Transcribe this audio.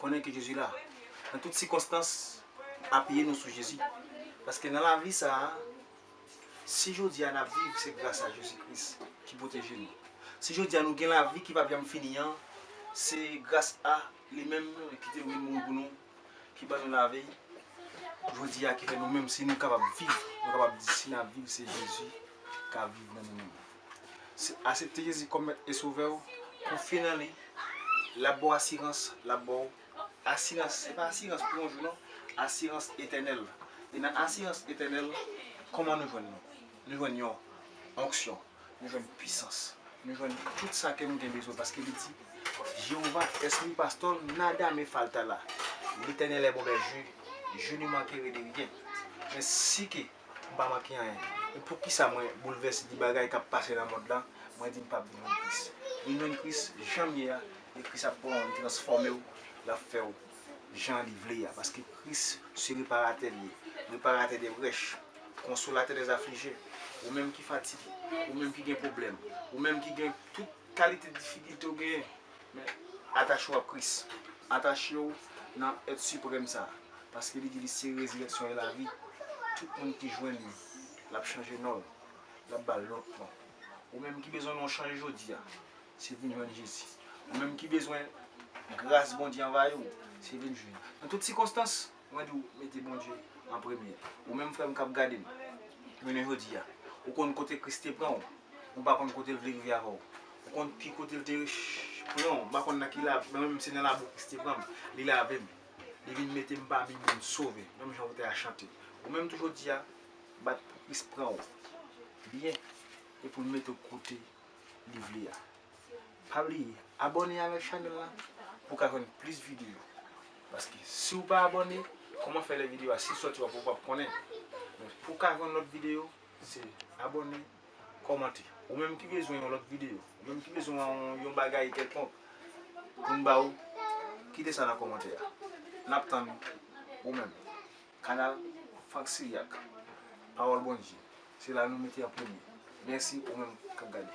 konnen ke Jezi la. Nan tout sikonstans, apiye nou sou Jezi. Paske nan lavi sa a, si jodi a n ap viv, se gras a Jezi Kris ki pwoteje nou. Si jodi a nou gen lavi ki p ap janm fini an, se gras a li menm ki te mouri pou nou, ki ban nou lavi jodi a, ki fè nou menm si nou kapab viv, nou kapab di si n ap viv se Jezi k ap viv nan nou menm. Asepte Jezi kòm mèt e sovè w, konfye nan li, lap baw asirans, lap baw asirans, se pa asirans pou yon jou non, asirans etènèl. E nan asirans etènèl, kòman nou jwenn li? Nou jwenn yon onksyon, nou jwenn pwisans, nou jwenn tout sa kè nou gen bezwen paske li di Jewova es mi pastor, nada me faltará, Letènèl è bon bèje, je ne mankerai de rien. Men si ke. m pa manke anyen. Men poukisa mwen boulvèse di bagay k ap pase nan mond lan, mwen di m p ap vin jwenn Kris? Vin jwenn Kris jan m ye a, e Kris ap pran w, li transfòme w, l ap fè w jan li vle a. Paske Kris se Reparatè l ye, Reparatè de brèch, Konsolatè dè aflije. Ou menm ki fatige, ou menm ki gen pwoblèm, ou menm ki gen tout kalite difikilte ou genyen, Men, atache ou ak Kris. Atache ou nan Èt Siprèm sa a, paske li di li se Rezirèksyon e Lavi. Tout moun ki jwenn li, l ap chanje non l, l ap ba l lòt non. Ou menm ki bezwen non w chanje jodi a, se vin jwenn Jezi. Ou menm ki bezwen gras Bondye anvayi w, se vin jwenn. Nan tout sikonstans. Mwen diw mete Bondye an premye. Ou menm frèm kap gadem jounen jodia ou konn kote kris te pranw ou pa konn kotel vle rive avèw ou konn pi kotel te pranw m pa konn nan ki la mwen menm se nan labou kris te pranm li lavem li vin metem pami moun sove menm jan ou te a chante ou menm tou jodia bat pou kris pranw byen epoul metew kote li vle a. Pa bliye abòne avèk chanèl la pou ka jwenn plis videyo paske siw pa abòne kòman fè lè videyo a si l sòti wap wè ou pap konnen men pou ka jwenn lòt videyo se abòne kòmante ou menm ki bezwen yon lòt videyo ou menm ki bezwen yon bagay kèlkonk poun ba ou kite sa nan kòmantè a nap tann ou menm kanal Franck Siriac pawòl Bondye se la nou mete an premye mèsi ou menm kap gade.